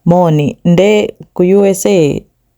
Moni, nde ku usa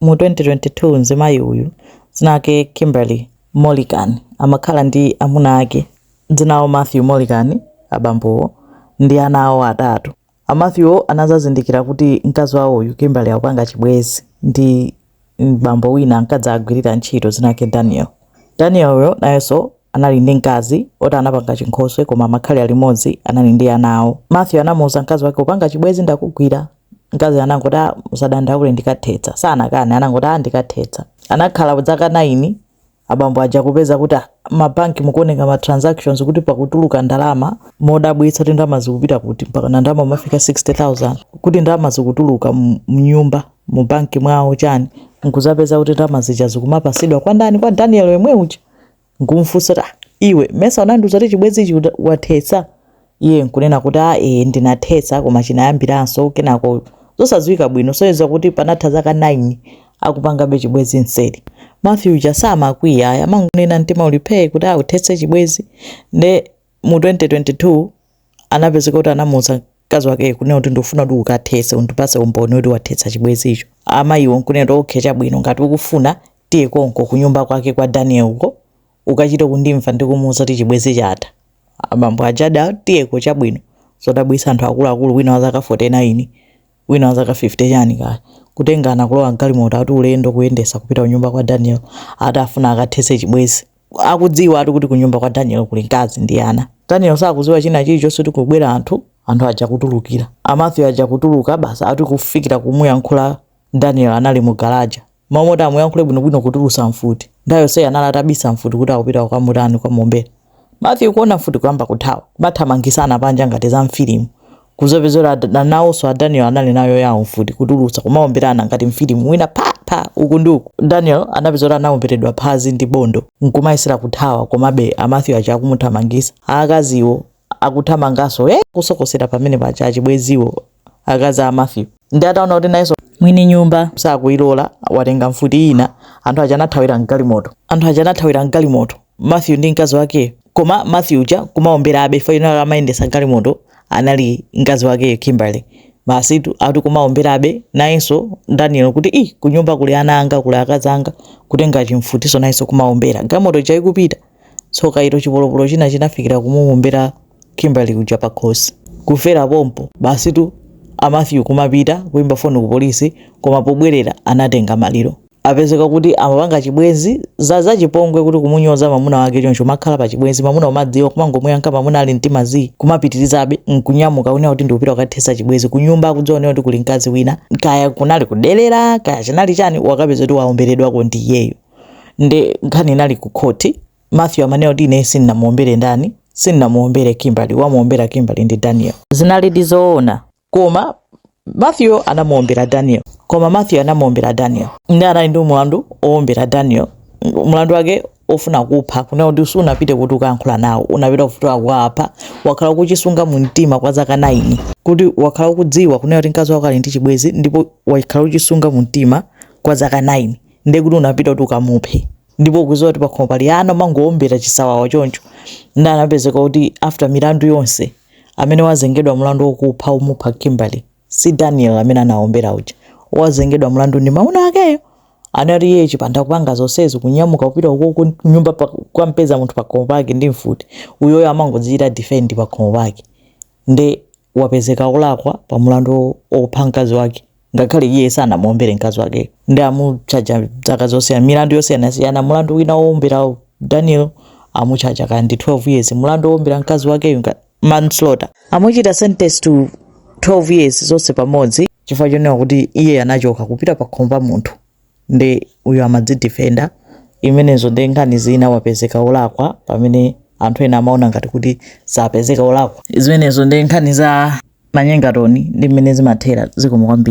mu 2022 nzimayi uyu dzina lake Kimberly Mulligan amakhala ndi amuna ake dzina lawo Matthew Mulligan abambowo ndi ana awo atatu. A Matthew wo anadzazindikira kuti mkazi wawo uyu Kimberly akupanga chibwezi ndi. bambo wina ankadzagwirira ntchito dzina lake Daniel. Danielyo nayenso anali ndi mkazi oti anapanga chinkhoswe koma amakhala limodzi anali ndi ana awo. Matthew anamuuza mkazi wake upanga chibwezi ndakugwira. Mkazi anangoti ah, usadandaule ndikathetsa. Sanakane anangoti ah, ndikathetsa. Anakhala dzaka 9 abambo aja kupeza kuti ah, ma bank mukuoneka ma transactions kuti pakutuluka ndalama modabwitsa kuti ndalama zikupita kuti mpaka ndalama kumafika 60000 kuti ndalama zikutuluka mu- mnyumba mu banki mwawo chani nkuzapeza kuti ndalama zija zikumapasidwa kwa ndani kwa daniel yemwe uja nkumfunsa kuti ah, iwe mesa unandiuza kuti chibwenzi ichi uda- wathetsa iye nkunena kuti a e, ndinathetsa koma chinayambiranso kenako zosadziwika bwino zoyeza kuti panatha zaka 9 akupangabe chibwezi mseri Matthew uja samakwiya ayi amangonena mtima uli phee kuti uthetse chibwezi nde mu 2022 anapezeka kuti anamuuza mkazi wake kunena kuti ndikufuna kuti ukathetse undipase umboni kuti wathetsa chibwezicho amayiwo nkunena kuti okay chabwino ngati ukufuna tiye konko kunyumba kwake kwa daniel uko ukachite kundimva ndikumuuza kuti chibwezi chatha abambo aja ada tiyeko chabwino zodabwisa anthu akuluakulu wina wa zaka 49 wina wa zaka 50 chani kaya kutengana kulowa mgalimoto ati ulendo kuyendesa kupita kunyumba kwa daniel ati akufuna akathese chibwezi akudziwa ati kuti kunyumba kwa daniel kuli mkazi ndi ana daniel sakuziwa china chilichonse kuti kukubwera anthu anthu aja kutulukira a Matthew aja kutuluka basi ati kufikira kumuyankhula Daniel anali mu galaja mmalo moti amuyankhule bwino bwino kutulusa mfuti nthawi yonseyi anali atabisa mfuti kuti akupita kukamutani kukamuombera Matthew kuona mfuti kuyamba kuthawa kumathamangisana panja ngati za mfilimu kuzapeza kuti adha nawonso a Daniel anali nayo yawo mfuti kutulusa kumaomberana ngati mfilimu wina pha pha uku ndi uku Daniel anapezeka kuti anaomberedwa phazi ndi bondo nkumayesera kuthawa komabe a Matthew aja akumuthamangisa akaziwo akuthamanganso eh, kusokosera pamene paja achibweziwo akazi a Matthew nde ataona kuti nayenso mwini nyumba sakuilola watenga mfuti ina anthu aja anathawira mgalimoto anthu aja anathawira mgalimoto Matthew ndi mkazi wake koma Matthew uja kumaomberabe faino amayendesa galimoto anali mkazi wake Kimberly masitu ati kumaomberabe nayenso Daniel kuti i kunyumba kuli ana anga kuli akazi anga kutenga chimfutiso nayenso kumaombera galimoto ija ikupita Tsoka ilo chipolopolo china chinafikira kumuwombera Kimberly uja pakhosi. Kufera pompo basitu a Mathew kumapita kuimba foni ku polisi koma pobwerera anatenga maliro. Apezeka kuti amapanga chibwenzi, zachipongwe kuti kumunyoza mamuna wake choncho umakhala pa chibwenzi mamuna umadziwa kumangomuyankha mamuna ali mtima zii kumapitilizabe nkunyamuka kunena kuti ndikupita kukathetsa chibwenzi kunyumba akudziwa kuti kuli mkazi wina kaya kunali kudelera kaya chinali chani wakapeza kuti waomberedwako ndi iyeyo. nde nkhani inali ku khoti matthew amanena kuti ine sindinamuombere ndani sindinamuombere kimberly wamuombera kimberly ndi daniel zinali dizoona koma matthew anamuombera daniel nde anali ndi mulandu owombera daniel mulandu wake ofuna kupha kunena kuti sunapite kuti ukayankhula nawo unapita kufuna kuwapha wakhala ukuchisunga mu mtima kwa zaka 9 kuti wakhala ukudziwa kunena kuti mkazi wako ali ndi chibwezi ndipo wakhala uchisunga mu mtima kwa zaka 9 ndiye kuti unapita kuti ukamuphe ndipo ukudziwa kuti pakhomo pali ana umangowombera chisawawa choncho nde anapezeka kuti after milandu yonse amene wazengedwa mlandu wokupha umupha kimberly si daniel amene anawombera uja wazengedwa mlandu ndi mamuna wakeyo anati iye chipanda kupanga zonsezi kunyamuka kupita ukoko nyumba pa- kukamupeza munthu pakhomo pake ndi mfuti uyoyo amangodzichita defend pakhomo pake nde wapezeka olakwa pa mulandu opha mkazi wake ngakhale iye sanamuombere mkazi wakeyo nde amuchaja zaka zosiyana milandu yosiyanasiyana mulandu wina woombera daniel amuchaja kaya ndi 12 years mulandu woombera mkazi wakeyo manslaughter amuchita sentence to 12 years zonse pamodzi chifukwa chonena kuti iye anachoka kupita pa khomo pa munthu nde uyu amadzidefenda zimenezo ndi nkhani zina wapezeka olakwa pamene anthu ena amaona ngati kuti sapezeka olakwa zimenezo ndi nkhani za manyengatoni ndi mmene zimathera zikomo kwambiri